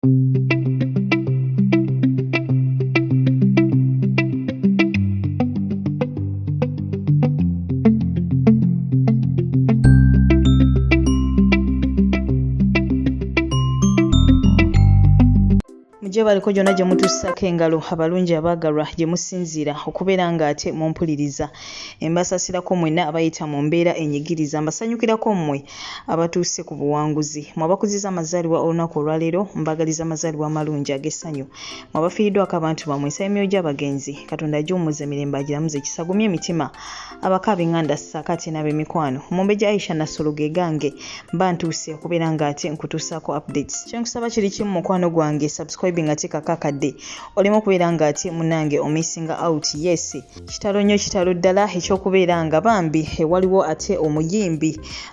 gye baliko gyonna gye mutussako engalo abalungi abaagalwa gye musinziira okubeera ng'ate mumpuliriza embasasirako mwenna abayita mu mbeera enyigiriza mbasanyukirako mmwe abatuuse ku buwanguzi mu abakuziza amazaalibwa olunaku olwaleero mbagaliza amazaalibwa amalungi ag'essanyu mu abafiiriddwako abantu bamwe ensaba emyoyo gy'abagenzi katonda agiwummuza emirembe agiramuze kisagumye emitima abako abenganda ssaako ate n'ab'emikwano mumbe gya aisha nassolo ge gange mba ntuuse okubeera nga ate nkutuusaako updates kyenkusaba kiri kimu mukwano gwange subscribing ate kakakadde oleme okubeera nga ate munange omissinga out yes kitalo nnyo kitalo ddala ekyokubeera nga bambi ewaliwo ate omuyimbi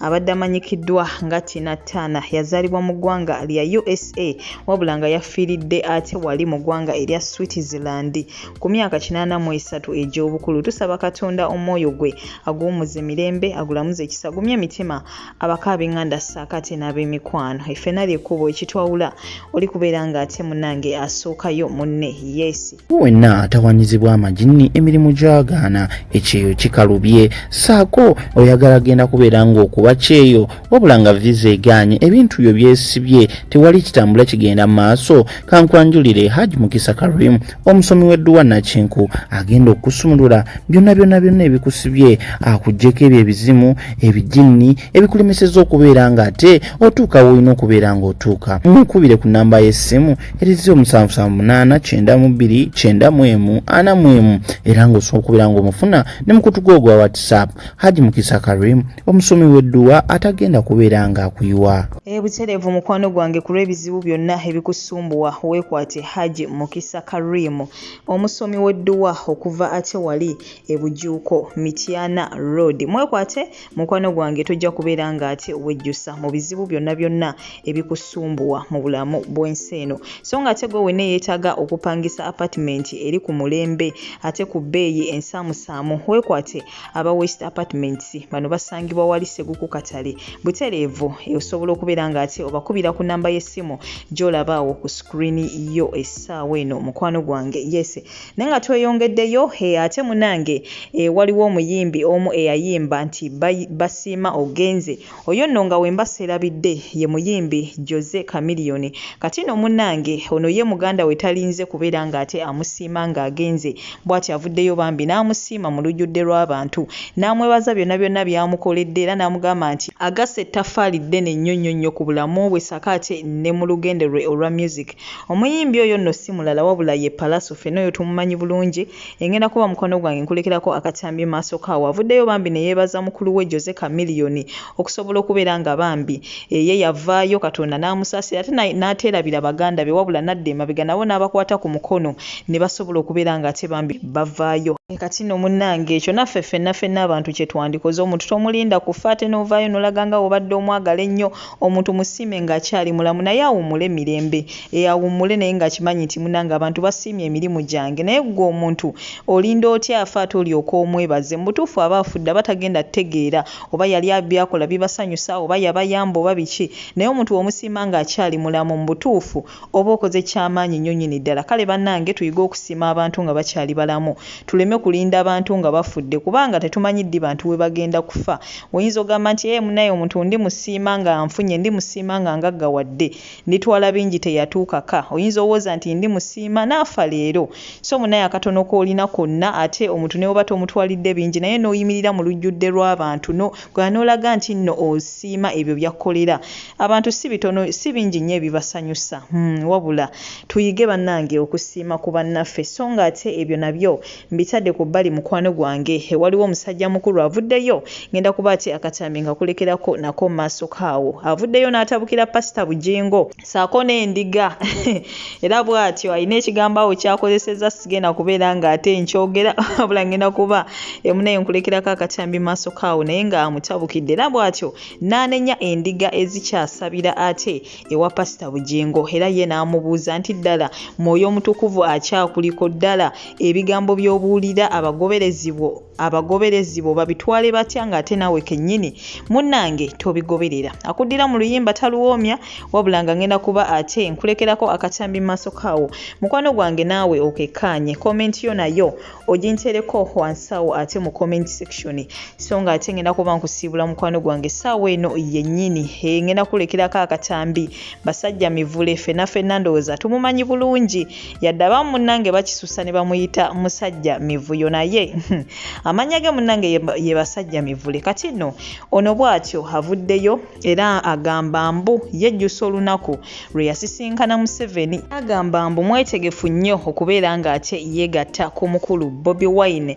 abadde amanyikiddwa nga tina tana yazaalibwa mu ggwanga lya usa wabula nga yafiiridde ate wali mu ggwanga erya switzerland ku myaka 83 egy'obukulu tusaba katonda omwoyo gwe aguwumuze mirembe agulamuze ekisa gumye emitima abako abenganda saakate n'ab'emikwano effena lyekkubo ekitwawula oli kubeera ng'ate munange asookayo munne yeesi wenna atawanyizibwa amajinni emirimu gyagaana ekyeyo kikalubye saako oyagala genda kubeera ng'okuba kyeyo wabula nga viza egaanye ebintu byo byesibye tewali kitambula kigenda mu maaso kankwanjulire haji mukisa karim omusomi w'edduwa nakinku agenda okusumulula byonna byonna byonna ebikusibye akugyeko ebyo ebizimu ebijinni ebikulemeseza okubeera nga ate otuuka woolina okubeera nga otuuka mukubire ku namba y'essimu eri 07789294 era ng'osobola okubeera ng'omufuna ne mukutuga ogwa whatsapp haji mukisa karim omusomi w'edduwa atagenda kubeera ng'akuyiwa ebutereevu mukwano gwange ku lw'ebizibu byonna ebikusumbuwa weekwate haji mukisa karim omusomi w'edduwa okuva ate wali ebujuuko mityana road mwekwate Mukwano gwange tojja kubeera ng'ate wejjusa mu bizibu byonna byonna ebikusumbuwa mu bulamu bw'ensi eno. So ng'ate gwe wenna eyeetaaga okupangisa apatimenti eri ku mulembe ate ku bbeeyi ensaamusaamu weekwate aba West Apartments. Bano basangibwa wali Seguku Katale butereevu. Osobola okubeera ng'ate obakubira ku nnamba y'essimu gy'olaba awo ku sikulini yo essaawa eno mukwano gwange. Yes. Naye nga tweyongeddeyo hee ate munange eeh waliwo omuyimbi omu eyayimba nti basiima ogenze oyo nno nga wemba serabidde ye muyimbi Jose chameleon kati nno munange ono ye mugandawe talinze kubera nga ate amusiima nga agenze bwati avuddeyo bambi namusiima mulujudde lwabantu namwebaza byona byona byamukoledde era namugamba nti agasse ettafaali ddene nnyo nnyo nnyo ku bulamu bwe ssaako ate ne mulugendo lwe olwa music Omuyimbi oyo nno si mulala wabula ye Pallaso ffena oyo tumumanyi bulungi, engenda kuba mukwano gwange nkulekerako akatambi maaso kaawo avuddeyo bambi ne yeebaza mukulu we Jose Chameleone okusobola okubeera nga bambi eye yavaayo Katonda n'amusaasira ate n'ateerabira baganda be wabula n'adda emabega nabo n'abakwata ku mukono ne basobola okubeera nga ate bambi bavaayo. Kati nno munnange ekyo naffe ffenna ffenna abantu kye twandikoze omuntu tomulinda kufa ate n'ovaayo n'olaga nga w'obadde omwagala ennyo, Omuntu musiime nga akyali mulamu naye awumule mirembe eeh awumule naye nga akimanyi nti munange abantu basiimye emirimu gyange naye gwe omuntu olinda otya afe ate olyoke omwebaze mubutuufu aba afudde aba tagenda tegeera oba yali byakola bibasanyusa oba yabayamba oba biki naye omuntu womusiima nga akyali mulamu mubutuufu Oba okoze kyamaanyi nnyo nnyini ddala. Kale bannange tuyige okusiima abantu nga bakyali balamu, tuleme kulinda abantu nga bafudde kubanga tetumanyi ddi bantu we bagenda kufa. Oyinza ogamba nti, Ee, munnaye omuntu ndimusiima nga anfunye, ndimusiima nga ngaggawadde, nditwala bingi teyatuuka ka. Oyinza owoza nti, Ndimusiima n'afa leero. So munnaye akatono k'olina konna, ate omuntu ne bw'oba tomutwalidde bingi naye n'oyimirira mu lujjudde lw'abantu no, Gwe an'olaga nti nno osiima ebyo by'akkolera abantu si bitono si bingi nnyo ebibasanyusa. Hum wabula tuyige bannange okusiima ku bannaffe sso nga ate ebyo nabyo mbitadde ku bbali mukwano gwange waliwo omusajja mukulu avuddeyo ng'enda kuba ate akatambi nkakulekerako nako mu maaso ko awo avuddeyo n'atabukira Pasita Bujingo saako n'endiga era bw'atyo alina ekigambo awo kyakozesezza sigenda kubeera ng'ate nkyogera wabula ngenda kuba emunaye nkulekerako akatambi maaso kaawo naye nga amutabukidde era bw'atyo n'anenya endiga ezikyasabira ate ewa pasita bugingo era ye n'amubuuza nti ddala mwoyo omutukuvu akyakuliko ddala ebigambo by'obuulira abagoberezi bwo abagoberezi bo babitwale batya ng'ate naawe kennyini munnange tobigoberera akuddira mu luyimba taluwoomya wabula nga ngenda kuba ate nkulekerako akatambi mu maaso kaawo mukwano gwange naawe okekkaanye komenti yo nayo ogintereko wansawo ate mu komenti section so nga ate ngenda kuba nkusiibula mukwano gwange essaawa eno yennyini eh, ngenda kulekerako akatambi basajja mivule fenna fenna ndowooza tumumanyi bulungi yadde abamu munange bakisusa ne bamuyita musajja mivuyo naye hmm, amanya ge munange ye basajja mivule kati no ono bwatyo avuddeyo era agamba mbu yejjusa olunaku lwe yasisinkana museveni agamba mbu mwetegefu nnyo okubeera ng'ate yeegatta ku mukulu bobi wine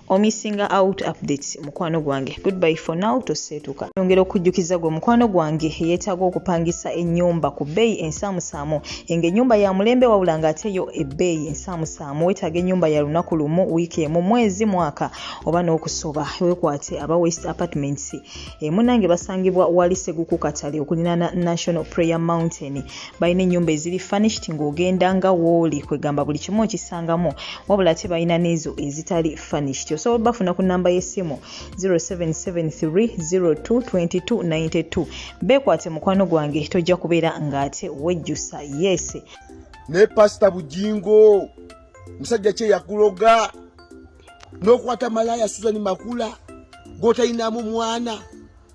omissinga out updates mukwano gwange goodbye for now toseetuka yongera okujjukiza gwe mukwano gwange yeetaaga okupangisa ennyumba ku bbeeyi ensaamusaamu enga ennyumba ya mulembe wabula ng'ate yo ebbeeyi ensaamusaamu weetaaga ennyumba ya lunaku lumu wiiki emu mwezi mwaka oba n'okusoba wekwate aba west apartments emunange basangibwa wali seguku katale okulinaana national prayer mountain balina ennyumba eziri furnished ng'ogenda nga wooli kwegamba buli kimu okisangamu wabula ate balina n'ezo ezitali furnished osobola obafuna ku namba y'essimu 0773022292 beekwate mukwano gwange tojja kubeera ng'ate wejjusa yese naye pasita bujingo musajja kye yakuloga n'okwata malaya suzani makula gwotalinamu mwana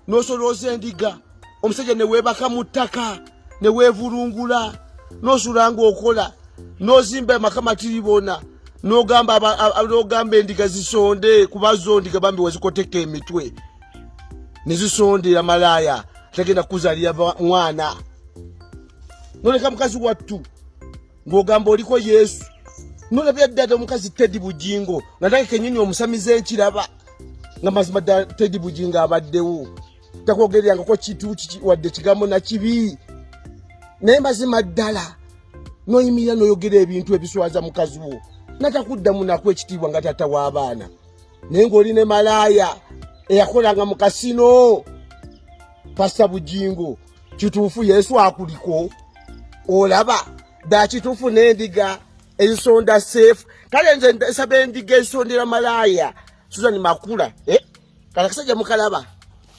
n'osolooza endiga omusajja ne weebaka mu ttaka ne weevulungula n'osula ng'okola n'ozimba amaka matiribona n'ogamba n'ogamba endiga zisonde kuba zo ndiga bambi wazikoteka emitwe ne zisondera malaaya tagenda kuzalira mwana noleka mukazi wattu ng'ogamba oliko yesu nolabya ddada omukazi teddy bugingo nga nange kenyini omusamize nkiraba nga mazima ddala tedi bujinga abaddewo takwogererangako kintu wadde kigambo na kibi naye mazima ddala noyimirira noyogera ebintu ebiswaza mukazi wo natakuddamu naku ekitiibwa nga tata w'abaana naye ng'oli ne malaaya eyakolanga mu kasino pasta bujingo kituufu yesu akuliko olaba dakituufu n'endiga ensonda safe kale nze nsaba endiga ensondera malaaya susan makula eh? kala kasajja mukalaba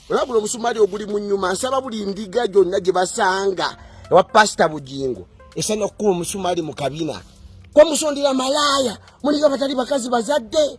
olaba guno omusumali oguli mu nyuma nsaba buli ndiga gyonna gye basanga ewa pasita bugingo esana okukuba omusumali mu kabina kwamusondera malaaya muliga batali bakazi bazadde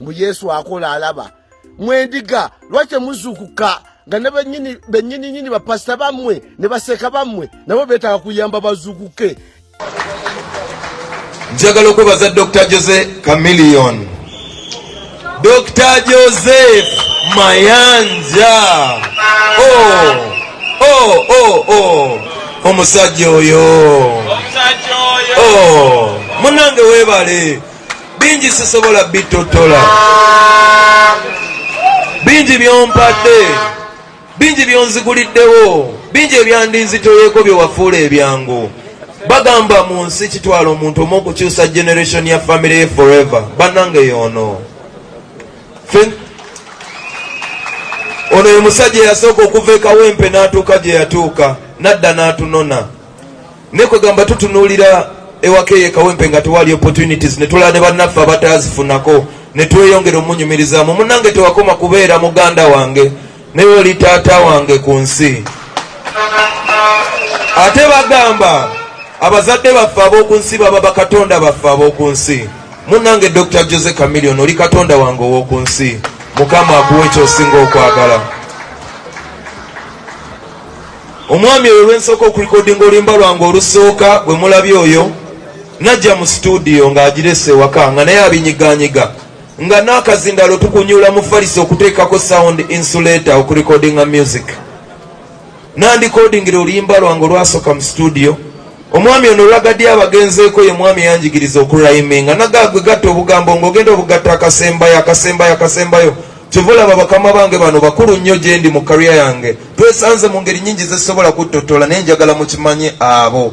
mbu yesu akola alaba mwendiga lwaki temuzuukuka nga ne benyini nyini bapasita bammwe ne baseeka bammwe nabo beetaaga kuyamba bazuukuke njagala okwebaza dr jose camilion dr joseph mayanja oh, oh, oh, oh. omusajja oyo oh, munange webale bingi sisobola bitottola bingi byompadde bingi byonziguliddewo bingi ebyandinzitoyeko byewafuula ebyangu bagamba mu nsi kitwala omuntu omu okukyusa generation ya famiry ye forever bannange yoono ono ye musajja eyasooka okuva ekawempe n'atuuka gye yatuuka n'adda n'atunona ne kwegamba tutunuulira ewaka eyo ekawempe nga tewali opportunities ne tulaba ne bannaffe abataazifunako ne tweyongera omunyumirizaamu munange tewakoma kubeera muganda wange naye oli taata wange ku nsi ate bagamba abazadde baffe ab'oku nsi baba bakatonda baffe ab'oku nsi munange dr jose camilion oli katonda wange ow'oku nsi mukama akuwa ekyosinga okwagala omwami oyo lwensooka okulikodinga oluyimba lwange olusooka gwe mulabye oyo najja mu situdiyo ng'agirese ewaka nga naye abinyiganyiga nga n'akazindalo tukunyula mu falisi okuteekako sound insulator okulikodinga music nandikodingira oluyimba lwange olwasooka mu situdiyo omwami ono olwagadde abagenzeeko ye mwami yanjigiriza okuraiminga nagagwe gatta obugambo ng'ogenda obugatta akasembayo akasembayo akasembayo kyova olaba bakama bange bano bakulu nnyo gyendi mu kariya yange twesanze mu ngeri nyingi zesobola kuttotola naye njagala mukimanye abo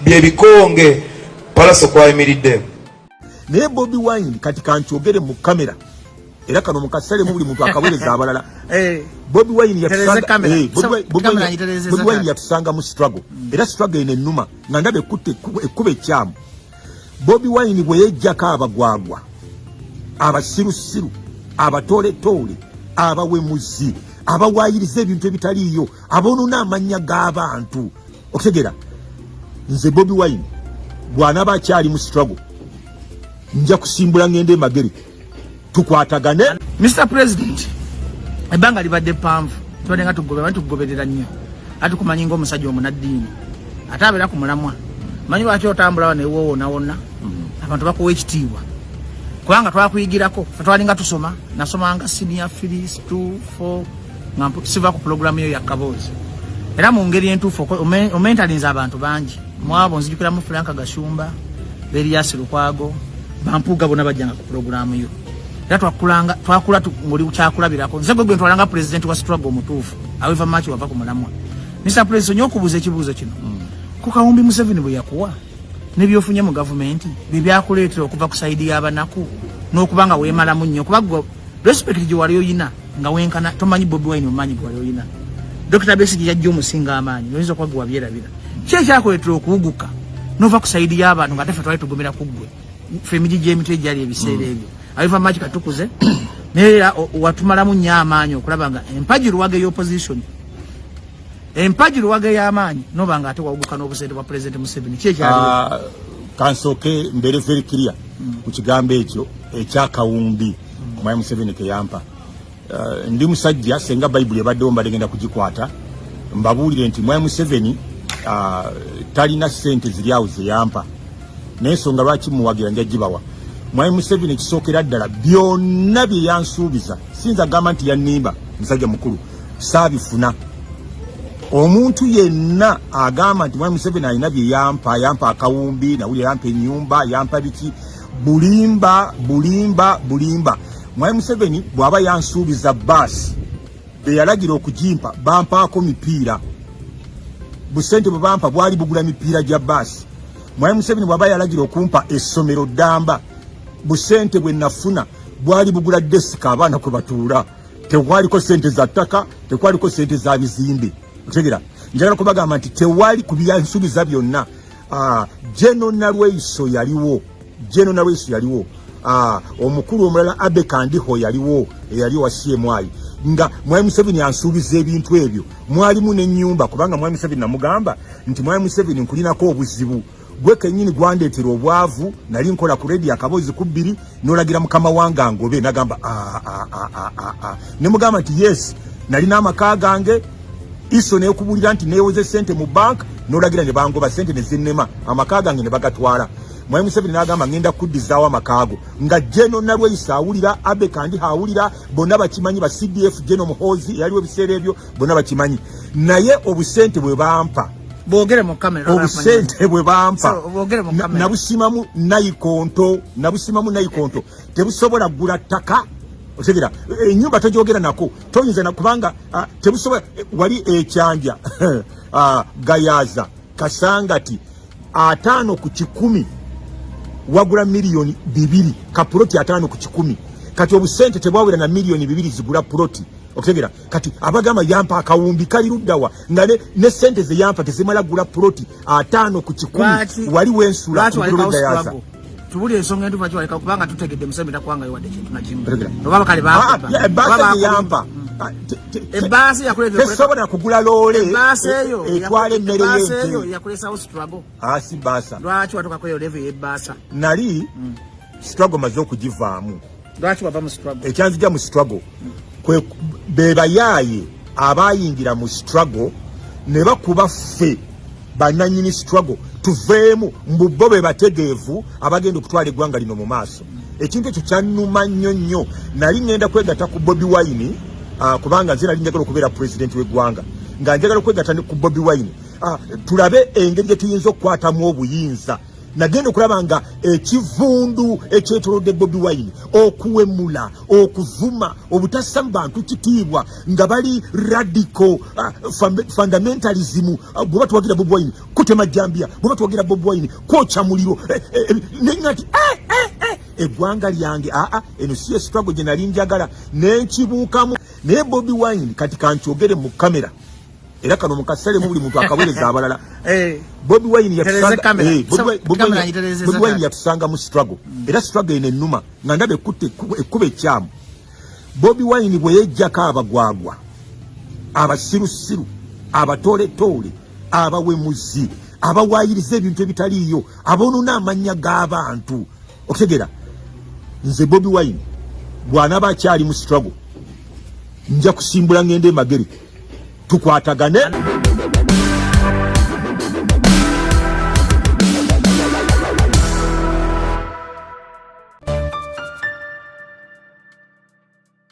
byebikonge palaso kwayimiridde naye bobi wine kati kankyogere mu kamera era kano mukasalemu buli muntu akawereza abalala eh. bobi wine eh, yatusanga mu struggle mm. era struggle eno enuma nga ndaba ekkuba ekyamu bobi wine bwe yejjako abagwagwa abasirusiru abatoletoole abawemuzi abawayiriza ebintu ebitaliiyo aboonona amannya g'abantu okutegera nze bobi wine bw'anaba akyali mu struggle nja kusimbula ngende emagere tukwatagane Mr President ebanga libadde panvu tubadde nga tugoberera tugoberera nnyo ati kumanyi nga omusajja omunaddiini ate abeera ku mulamwa manyi lwaki otambulawo newoowonawonna mm-hmm. abantu bakuwa ekitiibwa kubanga twakuyigirako fetwalinga tusoma nasomanga senior filis t nga siva ku pulogulaamu yo yakaboozi era mu ngeri entuufu omentalinza abantu bangi mwabo nzijukiramu Frank Gashumba Elias Lukwago bampuga bona bajjanga ku programu yo era twakulanga twakula ngoli kyakulabirako nze gwe gwe twalanga president wa struggle omutuufu aweva machi wava ku mulamwa Mr President nyo okubuza ekibuzo kino mm. ku kawumbi Museveni bwe yakuwa ne byofunye mu government bye byakuleetera okuva ku side y'abanaku n'okuba nga weemalamu nnyo kuba gwe respect gye wali oyina nga wenkana tomanyi Bobi Wine omanyi gwe wali oyina Dr Besigye yajja omusinga amaanyi oyinza okuba gwe wabyerabira Kye kyakuleetera okuwuguka nova ku saidi y'abantu nga tefe twali tugumira ku ggwe fe emiti gy'emitwe egyali ebiseera mm. ebyo abiva maaki katukuze naye era watumalamu nnyo amaanyi okulaba nga empagi luwaga ey'opposition empagi luwaga ey'amaanyi noba nga ate wawuguka n'obusente bwa pulezidenti museveni ki ekyali ah, kansooke mbeere very clear mm. ku kigambo ekyo ekyakawumbi mm. omwami museveni keyampa Uh, ndi musajja senga bayibuli ebaddewo mbadde genda kugikwata mbabuulire nti mwami museveni uh, talina sente ziri awo zeyampa naye ensonga lwaki muwagira nja gibawa mwami museveni ekisookera ddala byonna bye yansuubiza sinza gamba nti yannimba musajja mukulu saabifuna omuntu yenna agamba nti mwami museveni alina bye yampa yampa akawumbi nawuli yampa ennyumba yampa biki bulimba bulimba bulimba mwai museveni bwaba yansuubiza baasi beyalagira okujimpa bampaako mipiira busente bwe bampa bwali bugula mipiira gya baasi mwai museveni bwaba yalagira okumpa essomero ddamba busente bwe nafuna bwali bugula desika abaana kwe batuula tekwaliko sente za ttaka tekwaliko sente za bizimbe otegera njagala kubagamba nti tewali ku byansuubiza byonna ah, jeno nalweiso yaliwo jeno nalweiso yaliwo ah, omukulu omulala abe kandiho yaliwo eyali owa cmi nga mwami museveni ansuubiza ebintu ebyo mwalimu nenyumba kubanga mwami museveni namugamba nti mwami museveni nkulinako obuzibu gwe kenyini gwandeetera obwavu nali nkola ku redi akabozi ku bbiri nolagira mukama wange angobe nagamba ah, ah, ah, ne mugamba nti yes nalina amaka gange iso nekubulira nti newoze sente mu bank nolagira ne bangoba sente nezinema amaka gange ne bagatwala mwami Museveni nagamba ngenda kuddizaawo amakaago nga Geno Nalweyiso awulira Abe Kandiho awulira bonna bakimanyi ba CDF Geno Muhoozi eyaliwo ebiseera ebyo bona bakimanyi naye obusente bwe bampa bogere mu kamera obusente bwe bampa nabusimamu nayikonto nabusimamu nayikonto tebusobola gula ttaka otegera enyumba tojogera nako toyinza nakubanga ah, tebusobola eh, wali ekyanja ah, gayaza kasangati ataano ku kikumi wagula miliyoni bibiri kapuloti ataano ku kikumi kati obusente tebwawera na miliyoni bibiri zigula puloti otegera kati abagamba yampa akawumbi kali luddawa nga ne, ne sente ze yampa tezimala gula ploti ataano ku kikumi wali wensula kugayaza tubuli ensonga entuva kiwaleka kubanga tutegedde museveni takuwangayo wadde kintu nakimu oba bakale ah, ah, baasa yampa ebbaasa yakuleesobola kugula loole etwala emmere yeyo yakuleesawo strago asi ah, baasa lwaki watukakoyo levu yebbaasa nali hmm. strago maze okugivaamu lwaki wava mu struggle ekyanzija mu struggle kwe bebayaaye abayingira mu struggle ne bakuba ffe bananyini struggle tuveemu mbu bo be bategeevu abagenda okutwala eggwanga lino mu maaso ekintu ekyo kyannuma nnyo nnyo nali ŋŋenda kwegatta ku bobi wine uh, kubanga nze nali njagala okubeera pulezidenti w'eggwanga nga njagala okwegatta ku bobi wine uh, tulabe engeri gye tuyinza okukwatamu obuyinza nagenda okulaba nga ekivundu ekyetolodde bobi wine okuwemula okuvuma obutassa mu bantu kitiibwa nga bali radical uh, fundamentalism ah, bweba tuwagira bobi wine kutema jambia bweba tuwagira bobi wine kwoca muliro eh, eh, eh, nengati eh, eh, eh, egwanga lyange aa ah, ah, eno siyo struggle gyenali njagala nenkibuukamu naye bobi wine kati kankyogere mu kamera era kano mukasale mubuli muntu akawereza abalala eh. bobi wine yatusanga eh, bobi wine yatusanga mu struggle mm. era struggle ene numa nga ndabe kutte ekube kyamu bobi wine bwe yejjako abagwagwa abasirusiru abatooletoole abawemuzi abawayiriza ebintu ebitaliiyo aboonona amannya g'abantu okutegera nze bobi wine bw'anaba akyali mu struggle nja kusimbula ng'enda emagere tukwatagane